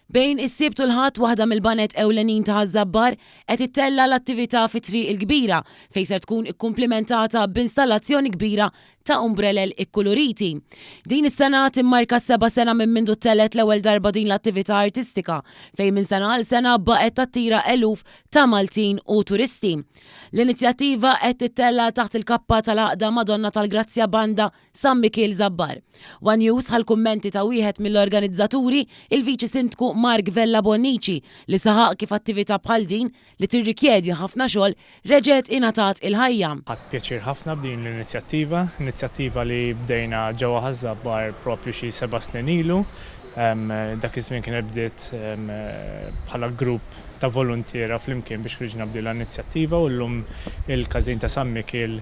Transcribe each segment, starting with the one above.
Bejn is-Sibt u l-Ħadd waħda mill-baned ewlenin ta' Ħaż-Żabbar qed ittella' l-attività fit-Triq il-Kbira fejn ser tkun ikkumplimentata b'installazzjoni kbira ta' umbrelel ikkuluriti. Din is-sena timmarka s-seba' sena minn mindu ttellgħet l-ewwel darba din l-attività artistika fejn minn sena għal sena baqgħet tattira eluf ta' Maltin u turisti. L-inizjattiva qed tittella' taħt il-kappa tal-Għaqda Madonna tal-Grazzja Banda San Mikiel Żabbar. One News ħa l-kummenti ta' wieħed mill-organizzaturi, il-Viċi Sindku Mark Vella Bonnici, li saħaq kif attività bħal din, li tirrikjedi ħafna xogħol, reġgħet ingħatat il-ħajja. Ħadt pjaċir ħafna b'din l-inizjattiva, inizjattiva li bdejna ġewwa Ħaż-Żabbar proprju xi seba' snin ilu. Dak iż-żmien kienet bdiet bħala grupp ta' voluntiera flimkien biex ħriġna b'din l-inizjattiva u llum il-każin ta' San Mikiel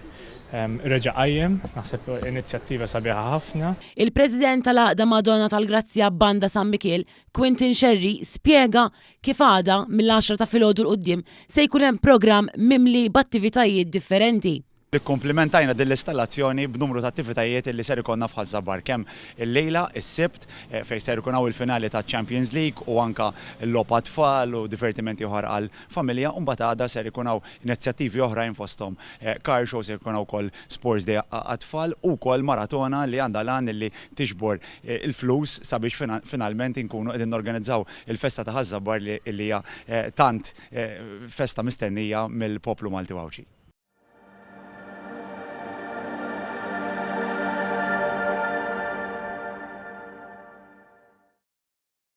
reġa' qajjem, naħseb inizjattiva sabiħa ħafna. Il-President tal-Għaqda Madonna tal-Grazzja Banda San Mikiel, Quintin Scerri spjega kif għada mill-għaxra ta' filgħodu 'l quddiem se jkun hemm programm mimli b'attivitajiet differenti. Ikkumplimentajna din l-istallazzjoni b'numru ta' attivitajiet li ser ikollna f'Ħaż-Żabbar kemm illejla, is-Sibt, fejn ser ikun hawn il-finali taċ-Champions League u anke logħob għat-tfal u divertimenti oħra għal familja u mbagħad għada ser ikun hawn inizjattivi oħrajn fosthom car show, se jkun hawn ukoll sports day għat-tfal u wkoll maratona li għandha l-għan illi tiġbor il-flus sabiex finalment inkunu qegħdin norganizzaw il-festa ta' Ħaż-Żabbar li li hija tant festa mistennija mill-poplu Malti u Għawdxi.